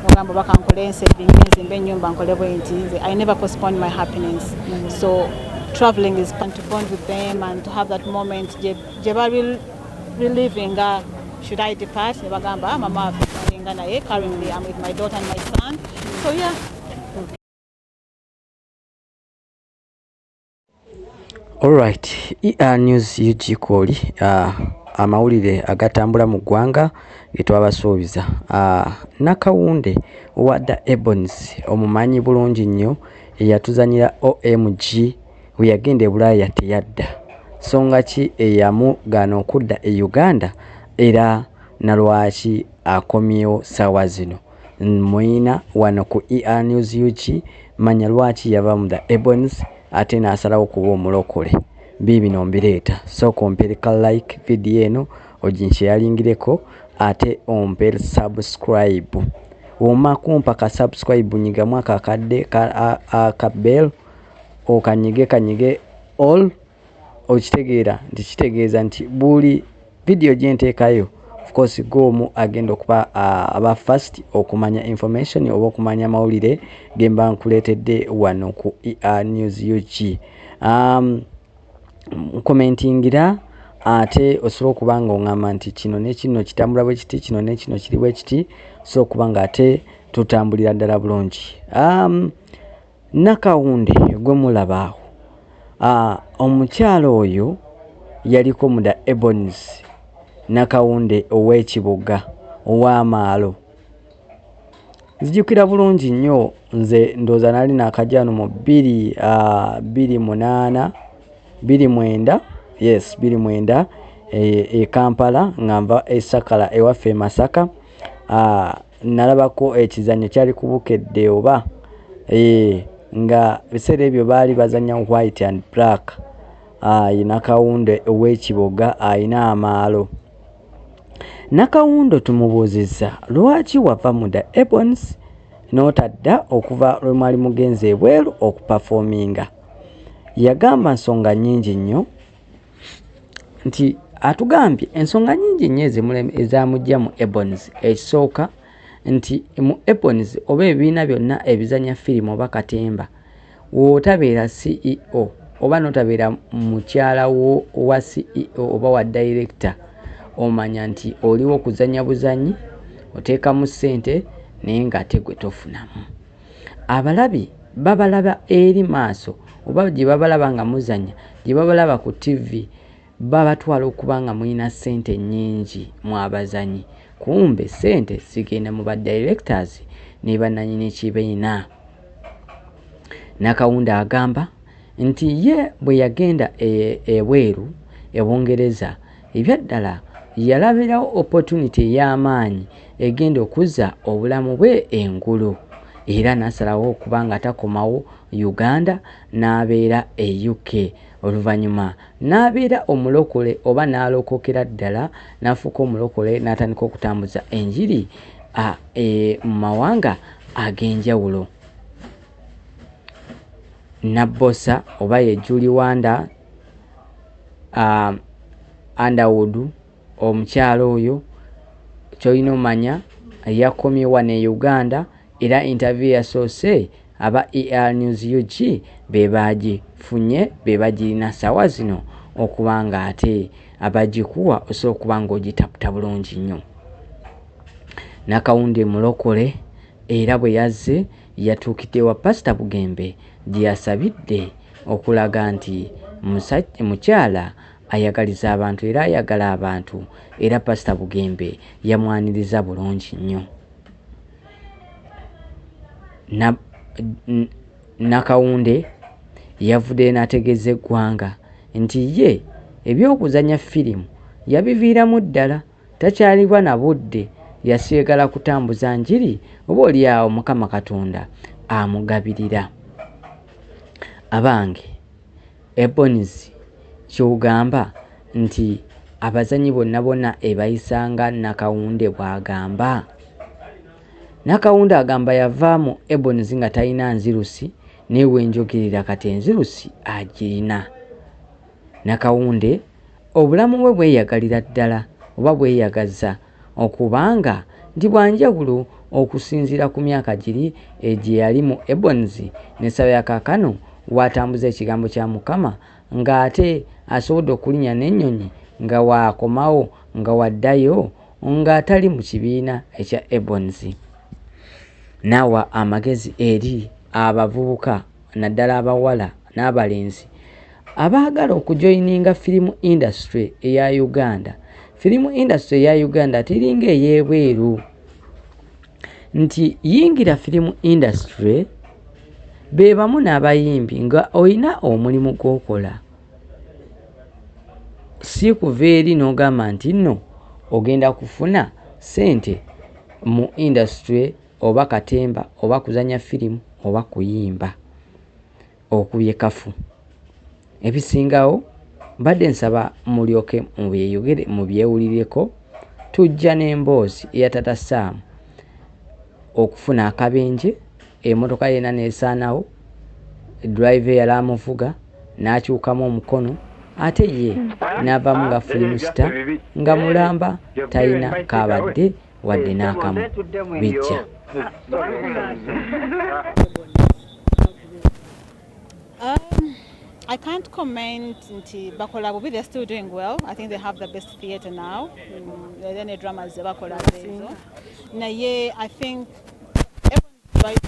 ogamba oba kankole ensebingi nzimba ennyumba nkole bwenti nze i never postpone my happiness mm. so traveling is fun to bond with them and to have that moment gye bali reliving nga uh, should i depart ne bagamba ah, mama afinga naye currently am with my daughter and my son so yeah Alright, ER News UG Kooli uh, amawulire agatambula mu ggwanga getwabasuubiza uh, Nakawunde owa The Ebons omumanyi bulungi nnyo eyatuzanyira OMG bwe yagenda e Bulaaya teyadda songa ki eyamugaana okudda e Uganda era nalwaki akomyewo saawa zino. Mwina wano ku ER News UK manya lwaki yava mu the Ebonies ate n'asalawo kuba omulokole. Biibino mbireeta, sooka ompere ka like vidiyo eno oginsheyaringireko ate ompere subscribe. Woma kumpa ka subscribe nyigamu akakadde ka bell okanyige kanyige all okitegeera nti kitegeeza nti buli vidiyo gye nteekayo ofcourse goomu agenda okuba aba fast okumanya information oba okumanya amawulire ge mba nkuleetedde wano ku ea news ug um, komentingira ate osobola okuba nga oŋamba nti kino nekino kitambula bwe kiti kino nekino kiri bwe kiti osobola okuba nga ate tutambulira ddala bulungi um, Nakawunde gwe mulaba awo, omukyala oyo yaliko mu da Ebonies Nakawunde ow'e Kiboga ow'amaalo. Nzijukira bulungi nnyo nze ndowooza nali naakajja wano mu bbiri bbiri munaana bbiri mwenda yes bbiri mwenda e Kampala nga nva e Sakala ewaffe e Masaka. uh, nalabako ekizanyo kyali kubukedde oba eh, nga biseera ebyo baali bazanya white and black ayi ah, nakawundo ow'ekiboga alina amaalo nakawundo tumubuuzizza lwaki wava mu the ebons n'otadda okuva lwe mwali mugenze ebweru okupafominga yagamba nsonga nyingi nnyo nti atugambye ensonga nyingi nnyo ezamujja mu ebons ekisooka nti mu ebons oba ebibiina byonna ebizanya firimu oba katemba wotabeera ceo oba notabeera mukyala wa ceo oba wa director omanya nti oliwo kuzanya buzanyi oteekamu ssente naye nga ate gwe tofunamu Abalabi babalaba eri maaso oba gye babalaba nga muzannya, gye babalaba ku ttivvi babatwala okuba nga mulina ssente nnyingi mmwe abazannyi kumbe ssente zigenda mu ba directors ne bannannyini kibiina. Nakawunda agamba nti ye bwe yagenda e, ebweru e Bungereza Ebyaddala yalabirawo opportunity ey'amaanyi egenda okuzza obulamu bwe engulu era n'asalawo okuba nga takomawo Uganda n'abeera e UK. Oluvannyuma n'abeera omulokole oba n'alokokera ddala n'afuuka omulokole n'atandika okutambuza enjiri mu mawanga ag'enjawulo. Nabbosa oba ye Julie Wanda. um, underwood omukyala oyo kyolina omanya yakomyewa ne uganda era interview yasoose aba er news ug bebagifunye bebagirina sawa zino okuba nga ate abagikuwa osobola okuba nga ogitaputa bulungi nnyo nakawundi mulokole era bwe yazze yatuukidde wa Pasita Bugembe gye yasabidde okulaga nti mukyala ayagaliza abantu era ayagala abantu era Pasita Bugembe yamwaniriza bulungi nnyo. Nakawunde yavudde n'ategeeza eggwanga nti ye eby'okuzannya firimu yabiviiramu ddala. takyalibwa na budde yasigala kutambuza njiri oba olyawo mukama katonda amugabirira abange eboniz kyogamba nti abazanyi bonna bona ebayisanga nakawunde bwagamba nakawunde agamba yava mu eboniz nga talina nzirusi naye wenjogerera kati enzirusi agirina nakawunde Obulamu bwe bweyagalira ddala oba bweyagaza okuba nga ndi bwanjawulo okusinziira ku myaka giri egyeyali mu Ebonies nessala ya kakano watambuza ekigambo kya Mukama nga ate asobodde okulinya nenyonyi nga wakomawo nga wadayo nga atali mu kibiina ekya Ebonies. Nawa amagezi eri abavubuka naddala abawala n'abalenzi abaagala okujoyininga firimu indasitule eya Uganda. Firimu indasitule eya Uganda tiringa ey'ebweru nti yingira firimu indasitule be bamu n'abayimbi nga olina omulimu gw'okola si kuva eri n'ogamba nti nno ogenda kufuna ssente mu indasitule. oba katemba oba kuzanya firimu oba kuyimba okubye kafu ebisingawo mbadde nsaba mulyoke mubyeyogere mubyewulireko tujja n'emboozi eya tata saamu okufuna akabenje emotoka yena nesaanawo drive yali amuvuga n'akyukamu omukono ate ye n'avamu nga firimu sita nga mulamba talina kaabadde wadde n'akamu bijja Um, I can't comment nti bakola bubi they're still doing well I think they have the best theatre now mm, then the dramas ze bakola zezo naye I think everyone's right